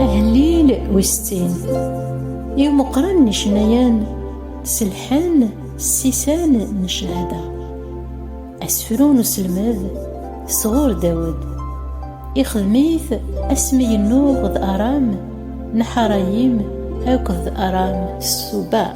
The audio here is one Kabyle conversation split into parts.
Ahellil wis settin i umeqran n icennayen selḥan ssisan n ccahada asefru n uselmed sɣur Dawed ixdem-it asmi yennuɣ d Aram n Ḥarayim akked Aram Subar.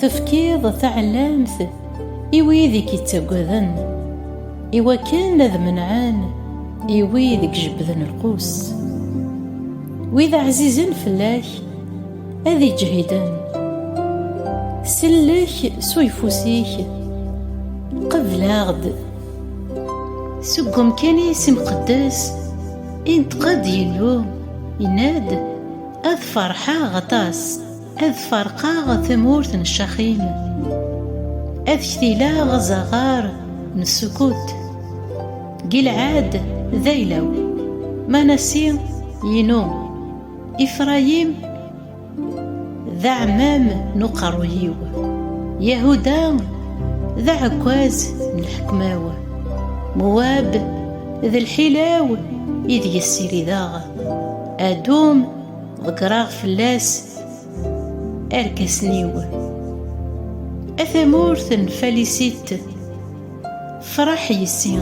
Tefkiḍ taɛellamt i wid i k-ittaggaden, i wakken ad menɛen i wid i ijebbden lqus. Wid ɛzizen fell-ak ad iǧehiden. Sellek s uyeffus-ik, qebl-aɣ-d. Seg wemkan-is imqeddes, inṭeq-d Yillu, yenna-d, Ad ferḥeɣ aṭas. Ad farqaɣ tamurt n ccaxin Ad ktilaɣ azaɣar n ssukut Gilɛad d ayla-w Manasi inu Ifrayim d aɛmam n uqerruy-iw Yahuda d aɛekkaz n lḥekma-w Muwab d lḥila-w ideg ssirideɣ Adum ḍeggreɣ fell-as arkasen-iw a tamurt n falisit fraḥ yessi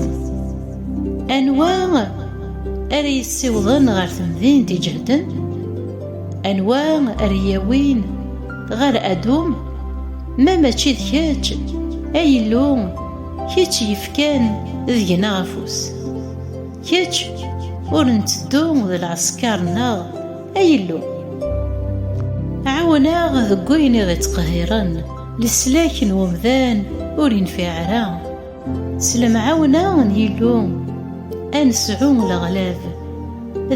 anwa ara yessiwḍen ɣer temdint iǧehden anwa ara yawin ɣer adum ma mačči d kečč ay Illu kečč yefkan deg-neɣ afus Kečč ur nteddu d lɛesker-nneɣ, ay Illu. Ɛawen-aɣ deg wayen i ɣ-ittqehhiren, leslak n umdan ur infiɛ ara. S lemɛawna n Yillu ad nesɛu leɣlab,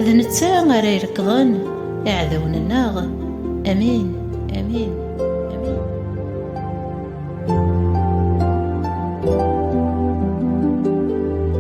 d netta ara irekḍen iɛdawen-nneɣ. Amin. Amin.